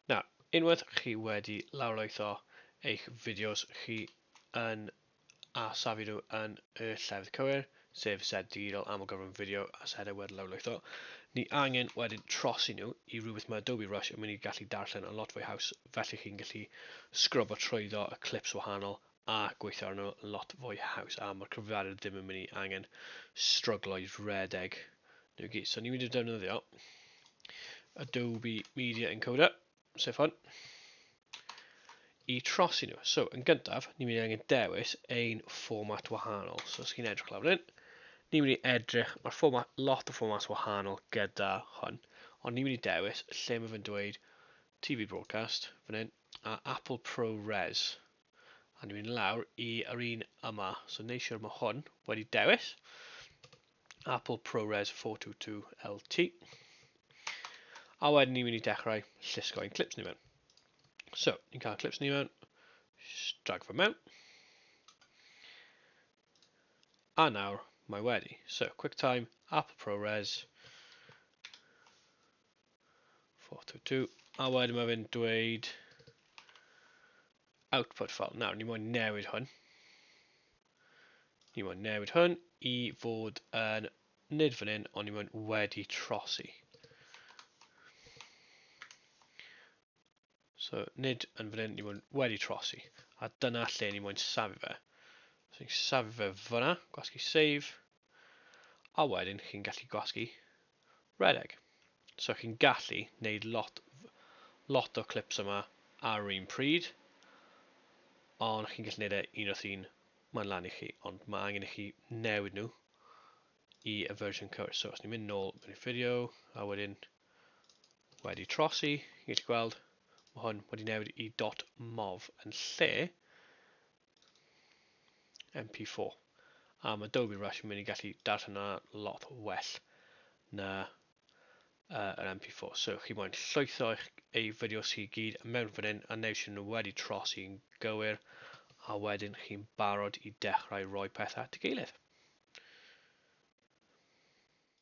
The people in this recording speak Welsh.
Na, unwaith chi wedi lawrlwytho eich fideos chi yn a safi nhw yn y llefydd cywir, sef set digidol amlgyfrwng fideo a set awyr lawrlwytho. Ni angen wedyn trosi nhw i rhywbeth mae Adobe Rush yn mynd i gallu darllen yn lot fwy haws, felly chi'n gallu sgrwbo trwyddo y clips wahanol a gweithio arno yn lot fwy haws a mae'r cyfrifiadur ddim yn mynd i angen stryglo i redeg nhw gyd. So ni'n mynd i defnyddio Adobe Media Encoder, sef hwn, i trosi nhw. So yn gyntaf, ni'n mynd i angen dewis ein fformat wahanol. So os chi'n edrych lawr fan hyn, ni'n mynd i edrych, mae'r fformat, lot o fformat wahanol gyda hwn, ond ni'n mynd i dewis lle mae fe'n dweud TV Broadcast, fan hyn, a Apple ProRes, A ni'n mynd lawr i yr un yma. So neu siwr mae hwn wedi dewis. Apple ProRes 422 LT. A wedyn ni'n mynd i dechrau llusgo ein clips ni mewn. So, ni'n cael clips ni mewn, drag fy mewn. A nawr, mae wedi. So, QuickTime, Apple ProRes, 422, a wedyn mae fe'n dweud output file. Nawr, ni moyn newid hwn. Ni moyn newid hwn i fod yn nid fan hyn, ond ni moyn wedi trosi. So, nid yn fan hyn, ni moyn wedi trosi. A dyna lle ni moyn safi fe. So, ni'n safi fe fyna, gwasgu save. a wedyn chi'n gallu gwasgu rhedeg. So chi'n gallu neud lot lot o clips yma ar yr un pryd, ond chi'n gallu neud e un wrth un, mae'n lan i chi, ond mae angen i chi newid nhw i y version cywir. So os ni'n mynd nôl mewn i video, a wedyn wedi trosi, chi'n gallu gweld, mae hwn wedi newid i dot mov yn lle MP4. A mae Adobe Rush yn mynd i gallu darllen yna lot well na uh, yr MP4. So chi moyn llwytho eich, ei fideos chi gyd mewn fan hyn a neu sy'n nhw wedi tros i'n gywir a wedyn chi'n barod i dechrau rhoi pethau at y gilydd.